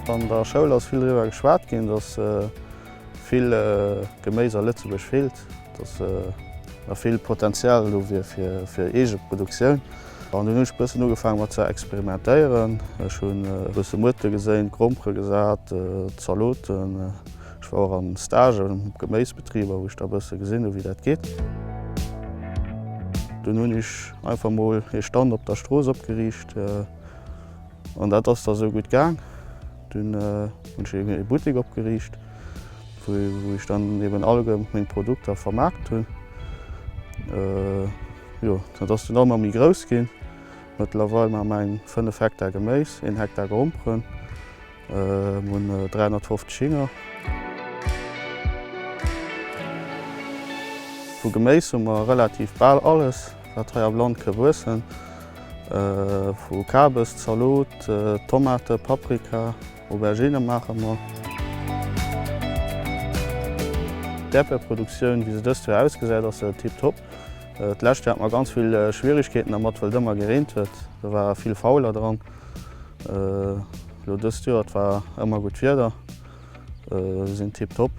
An der Schoul ass vill driwwer geschwat ginn, dass vill Geméis a Lëtzebuerg feelt, dass nach vill Potenzial do wier fir Eegeproduktioun. An dunn hunn ech e bëssen ugefaangen mat ze experimentéieren. Ech hu bësse Muerte geséint, Grompere gesat, Zaloten. Ech war och am Stage am Geméisbetrib a wou ech da e bësse gesinn hu wéi dat geet. Dunn hunn ech einfach mol ee Stand op der Strooss opgeriicht an dat ass da sou gutt gaang. Dunn hunn ech ee Buttek opgeriicht wou ech dann eben alleguer meng Produkter vermaart hunn. Jo dat ass dunn ëmmer méi grouss ginn. Mëttlerweil maache mer eng 5 Hektar Geméis, een Hektar Gromperen. Mir hunn 350 Hinger. Vu Geméis hu mer relativ bal alles, wat hei am Land ka wuessen. Vu Kabes, Zalot, Tomate, Paprika, Aubergine maache mer. D'Äerdbierproduktioun, wéi se dëst Joer ausgesäit, ass tiptop. D'lescht Joer hate mer ganz vill Schwierigkeeten dermat, well et ëmmer gereent huet. Do war vill Fauler dran. Lo dëst Joer, et war ëmmer gutt Wieder, se sinn tiptop.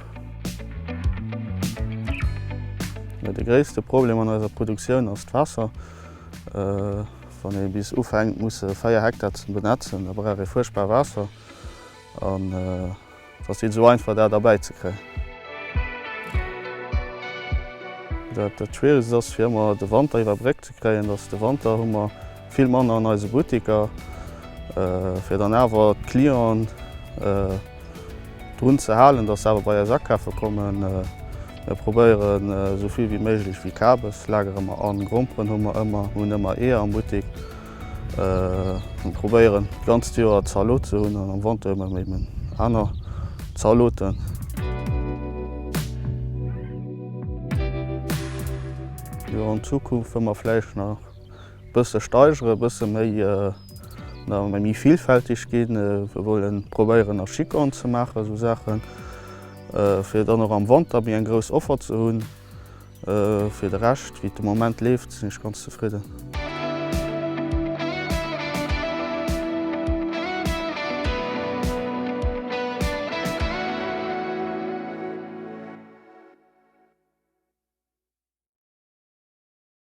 De gréisste Problem an eiser Produktioun ass d'Waasser. Wann ee bis ufänkt musse 4 Hektar ze benetzen, da brauch ee fuerchtbar Waasser. Et ass net esou einfach dat erbäi ze kréien. Dat schwieregst ass fir ëmmer de Wanter iwwer Bréck ze kréien. Et ass de Wanter hu mer vill manner an eise Butteker fir dann awer d'Clienten drun ze halen, datt se awer bei eis akafe kommen. Mir probéieren esou vill wéi méiglech Vikabeslager ëmmer an. Gromperen hu mer ëmmer, mir hunn ëmmer Eeër am Buttek. Ech probéieren d'ganzt Joer Zalot ze hunn an am Wanter ëmmer méi meng aner Zaloten. Jo an Zukunft wëll mer vläicht nach e bësse steigeren, e bësse méi, nach méi villfälteg ginn. Mir wëllen probéieren a Chicorne ze maachen, esou Saachen, fir dann och am Wanter méi eng grouss Offer ze hunn. Fir de Rescht, wéi et de Moment leeft, sinn ech ganz zefridden.